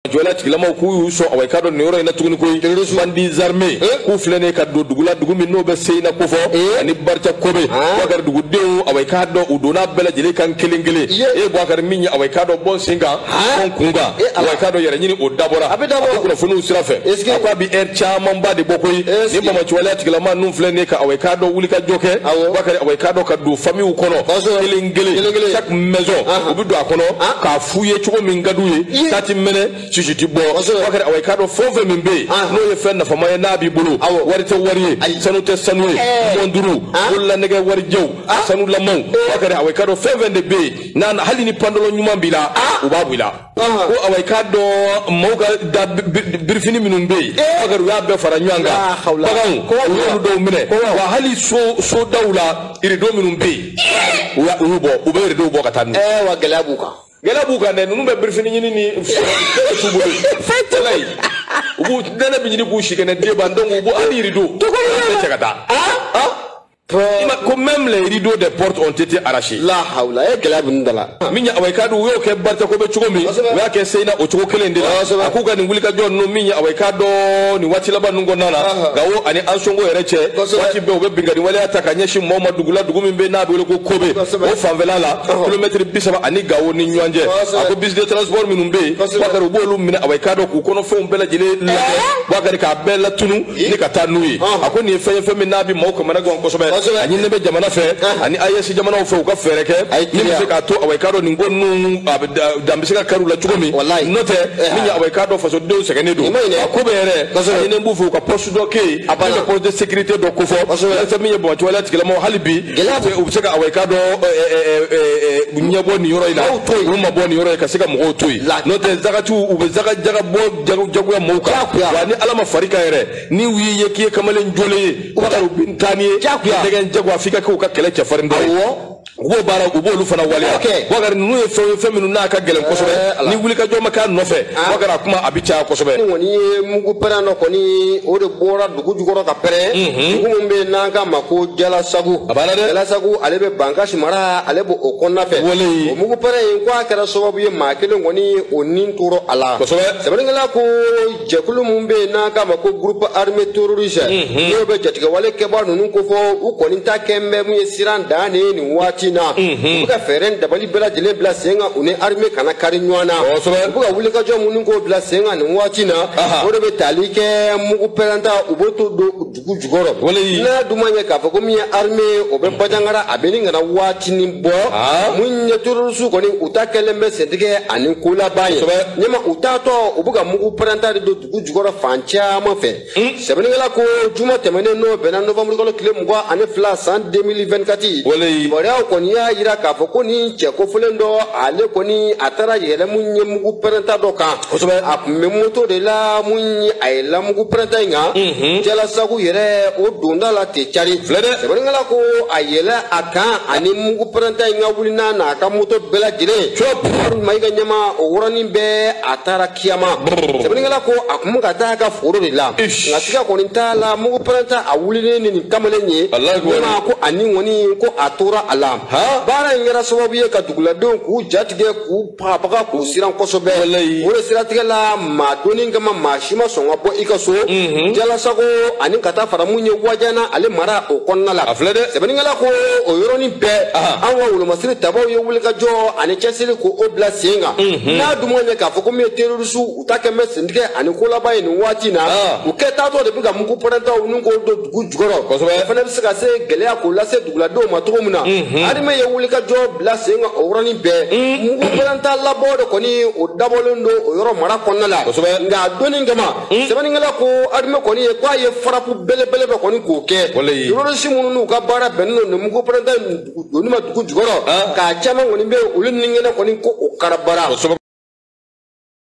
waleya tigilamaw k'u y'u sɔn awɔ i k'a dɔn nin yɔrɔ in na tuguni koyi bandits armés k'u filɛ nin ye ka don dugu la dugu min n'o bɛ seyina kofɔ ani barta kobe buwakari dugudenw awɔ i k'a dɔn u donna bɛɛ lajɛlen kan kelen kelen e buwakari min ye awɔ i k'a dɔn bɔn sen kan bɔn kun kan awɔ i k'a dɔn yɛrɛ ɲini o dabɔra a bɛ kunnafoniw sira fɛ a ko a bɛ ɛri camanba de bɔ koyi ni banbaanci waleya tigilama ninnu filɛ nin ye ka awɔ i k'a dɔn wulikajɔ kɛ buwakari awɔ i k'a dɔn ka don famiw kɔnɔ kelen kelen maison u bɛ don a kɔnɔ k'a f'u ye cogo min ka d'u ye ta ti mɛnɛ sisi ti bɔ buwakari awɔ i k'a dɔn fɛn o fɛn min bɛ yen n'o ye fɛn nafama ye n'a b'i bolo wari tɛ wari ye sanu tɛ sanu ye mɔnturu bololanɛgɛ warijɛw sanulamaw buwakari awɔ i k'a dɔn fɛn o fɛn de bɛ yen n'a hali ni pantalon ɲuman b'i la u b'a bɔ i la ko awa i k'a dɔn maaw ka da birifini minnu bɛ yen bakari u y'a bɛɛ fara ɲɔgɔn kan baganw u y'olu dɔw minɛ wa hali so daw la irido minnu bɛ yen u y'a- u y'u bɔ u bɛ iridow bɔ ka taa n'u ye. ɛɛ wa gɛlɛya b'u kan gɛlɛya b'u kan dɛ ninnu bɛ birifini ɲini ni su bolo ye walayi. u b'u nɛnɛ bɛ ɲini k'u si kɛnɛ de ban donc u b'u hali irido u bɛɛ cɛ ka taa ko même les rideaux des portes ont été arrachés la hawla e gɛlɛya b'u da la min ye awa i k'a dɔn u y'o kɛ barta kobe cogo min u y'a kɛ seyina o cogo kelen de la a k'u ka nin wulikajɔ ninnu min ye awa i k'a dɔn nin waati laban ninnu kɔnɔna na gawo ani ansongo yɛrɛ cɛ waati bɛɛ u bɛ binkanni waleya ta ka ɲɛsin mɔgɔw ma dugu la dugu min bɛ n'a bɛ wele ko kobe o fanfɛla la kilomɛtiri bi saba ani gawo ni ɲɔgɔn cɛ a ko bus de transport minnu bɛ yen bakari u b'olu minɛ awa i k'a dɔn k'u kɔnɔfɛnw bɛɛ lajɛlen lajɛ bakari k'a bɛɛ latunu ni ka taa n'u ye a ko nin ye fɛn ye fɛn min n'a bɛ maaw kamana gan kosɛbɛ a ɲininen bɛ jamana fɛ ani AES jamanaw fɛ u ka fɛɛrɛ kɛ min bɛ se k'a to awa i k'a dɔn nin ko ninnu dan bɛ se ka kari u la cogo min n'o tɛ min ye awa i k'a dɔn fasodenw sɛgɛnnen don a kobe yɛrɛ a ɲininen b'u fɛ u ka poste dɔ kɛ yen min bɛ poste de sécurité dɔ kofɔ walasa min ye banbaanci waleya tigilamɔgɔ hali bi u bɛ se ka awa i k'a dɔn ɲɛbɔ nin yɔrɔ in na u mabɔ nin yɔrɔ in ka se ka mɔgɔw to yen n'o tɛ zakati u bɛ zaka jaka bɔ jagoya mɔgɔw kan jagoya wa ni ala ma far'i kan yɛrɛ ni u y'i ye k'i ye kamalen jɔlen ye u ka taa u bɛ taa n'i ye degun jagoya f'i ka kɛ u ka kɛlɛ cɛfarin dɔ ye u b'o baara u b'olu fana waleya wakari ninnu ye fɛnw ye fɛn minnu n'a ka gɛlɛn kosɛbɛ eh, ni wulikajɔ ma k'a nɔfɛ wakari a kuma a bɛ caya kosɛbɛ ni kɔni ye mugu pɛrɛn dɔ kɔni o de bɔra dugu jukɔrɔ ka pɛrɛn mhm. dugu min bɛ yen n'an k'a ma ko jalasagu jalasagu ale bɛ bankasi mara ale b'o o kɔnɔna fɛ o mugu pɛrɛn in ko a kɛra sababu ye maa kelen kɔni o ni tora a la sɛbɛnnikɛla ko jɛkulu min bɛ yen n'an k'a ma ko groupe armé terroriste mhm. n'o bɛ jatigɛwale kɛbaa ninnu ko fɔ u kɔni ta kɛlen bɛ mun ye siran dan de ye nin waati in na mhm. u bɛ ka fɛɛrɛ dabali bɛɛ lajɛlen bila sen kan u ni armée kana kari ɲɔgɔn na u bɛ ka wulikajɔ minnu k'o bila sen kan nin waati na o de bɛ tali kɛ mugu pɛrɛnta u b'o to don dugu jukɔrɔ n'a dun ma ɲɛ k'a fɔ ko min ye armée ye o bɛ bajangara a bɛ nin kan a waatinin bɔ mun ye terorisiw kɔni u ta kɛlen bɛ sentigɛ ani kolaba ye ɲɛma u taatɔ u bɛ ka mugu pɛrɛnta de don dugu jukɔrɔ fan caman fɛ Hmm? sɛbɛnnikɛla ko juma tɛmɛnen n'o bɛnna nɔfamurukalo tile mugan ani fila san 2024 kibaruyaw kɔni y'a jira k'a fɔ ko nin cɛ kofolen dɔ ale kɔni a taara yɛlɛ mun ye mugu pɛrɛnta dɔ kan a tun bɛ moto de la mun ye a yɛlɛla mugu pɛrɛnta in kan mhm. jalasago yɛrɛ o donda la tɛ cari sɛbɛnnikɛla ko a yɛlɛ a kan ani mugu pɛrɛnta in ka wuli n'a n'a ka moto bɛɛ lajɛlen walima i ka ɲɛma o yɔrɔnin bɛɛ a taara kiyama sɛbɛnnikɛla ko a kun bɛ ka taa a ka foro de la nka siga kɔni t'a la mugu pɛrɛnta a wulilen ni nin kamalen ye ɲɛma ko a ni kɔni ko a tora a la baara in kɛra sababu ye ka duguladenw k'u jatigɛ k'u bagabaga k'u siran kosɛbɛ o de siratigɛ la maa donni kama maa si ma sɔn ka bɔ i ka so mhm. jalasago ani ka taa fara mun ye wajana ale mara o kɔnɔna la sɛbɛnnikɛla ko o yɔrɔnin bɛɛ an ka wolomasiri tabaw ye wulikajɔ ani cɛsiri ko o bila sen kan Mhm. n'a dun ma ɲɛ k'a fɔ ko min ye terorisiw u ta kɛlen bɛ sentigɛ ani kolaba ye nin waati in na ah. u kɛtaatɔ de bɛ ka mugu pɛrɛntaw nin k'o don dugu jukɔrɔ o fana bɛ se ka se gɛlɛya k'o lase duguladenw ma cogo min na mhm. armée ye wulikajɔ bila sen kan o yɔrɔnin bɛɛ mhm. mugu pɛrɛnta labɔ de kɔni o dabɔlen don o yɔrɔ mara kɔnɔna la nka a donni kama sɛbɛnnikɛla ko armée kɔni ye k'a ye farapu belebele dɔ kɔni k'o kɛ terorisi minnu n'u ka baara bɛnnen don nin mugu pɛrɛnta donni ma dugu jukɔrɔ k'a caman kɔni bɛ olu ni kɛnɛ kɔni ko o karabara